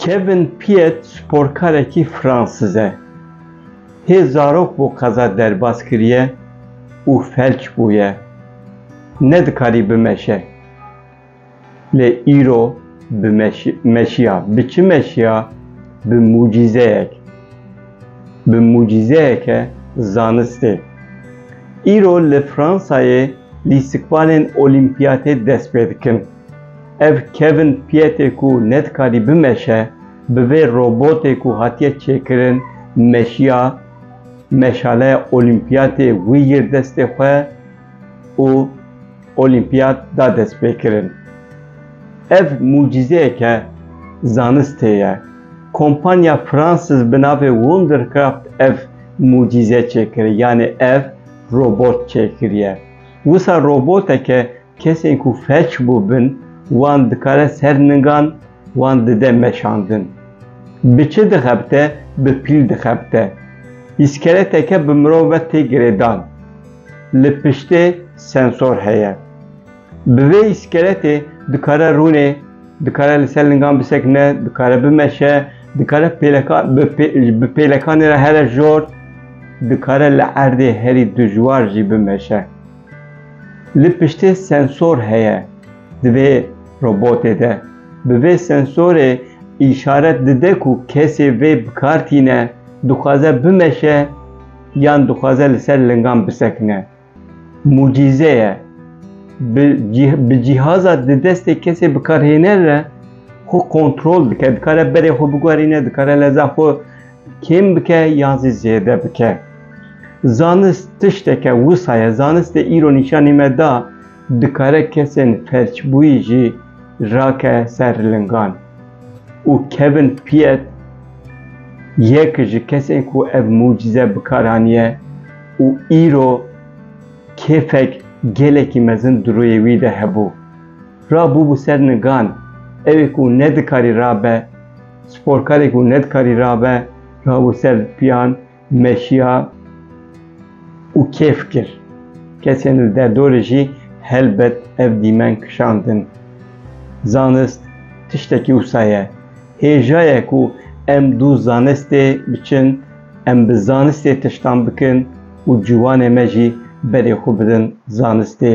Kevin Piet sporkarekî Fransız e. Hê zarok bo qeza derbas kiriye û felç bûye. Nedikarî bimeşe. Lê îro bi meşiya, bi çi meşiya? Bi mucîzeyek. Bi mucîzeyeke zanistê. Îro li Fransayê lîstikbalên olîmpiyatê dest pê dikin. Ev Kevin Pietê ku nedikarî bimeşe, bi vê robotê ku hatiye çêkirin meşiya, meşaleya olîmpiyatê wî yir destê xwe, û Olîmpiyat da destpêkirin. Ev mucîzeyeke zanistê ye. Kompanya Fransız bi navê Wondercraft ev mucîze çêkiriye, yanê ev robot çêkiriye. Wisa roboteke kesên ku felç bûbin wan dikare ser ningan wan dide meşandin. Bi çi dixebite? Bi pîl dixebite. Îskeleteke bi mirov ve tê girêdan. li piştê sensor heye. Bi vê îskeletê dikare rûnê, dikare li ser lingan bisekine, dikare bimeşe, dikare pêleka bi pê bi pêlekanê re here jor, dikare li erdê herî dijwar jî bimeşe. Li piştê sensor heye di vê robotê de. Bi vê sensorê îşaret dide ku kesê vê bi kar tîne, dixwaze bimeşe, yan dixwaze li ser lingan bisekine. Mucîze ye. Bi cîhaza di destê kesê bikarhêner re xwe kontrol dike, dikare berê xwe biguherîne, dikare leza xwe kêm bike yan zî zêde bike. Zanist tişteke wisa ye. Zanistê îro nîşanî me da Dikare kesên felçbûyî jî rake ser lingan û kevin piyet yek ji kesên ku ev mucîze bi kar haniye û îro kêfek gelekî mezin di rûyê wî de hebû. Ra bûbû ser nigan, ew ê ku nedikarî rabe, sporkarê ku nedikarî rabe, rabû ser piyan, Meşiya û kêf kir. Kesên li derdorê jî helbet ev dîmen kişandin. Zanist tiştekî wisa ye. Hêjaye ku em dû zanistê biçin, em bi zanistê tiştan bikin û ciwanê me jî berê xwe bidin zanistê.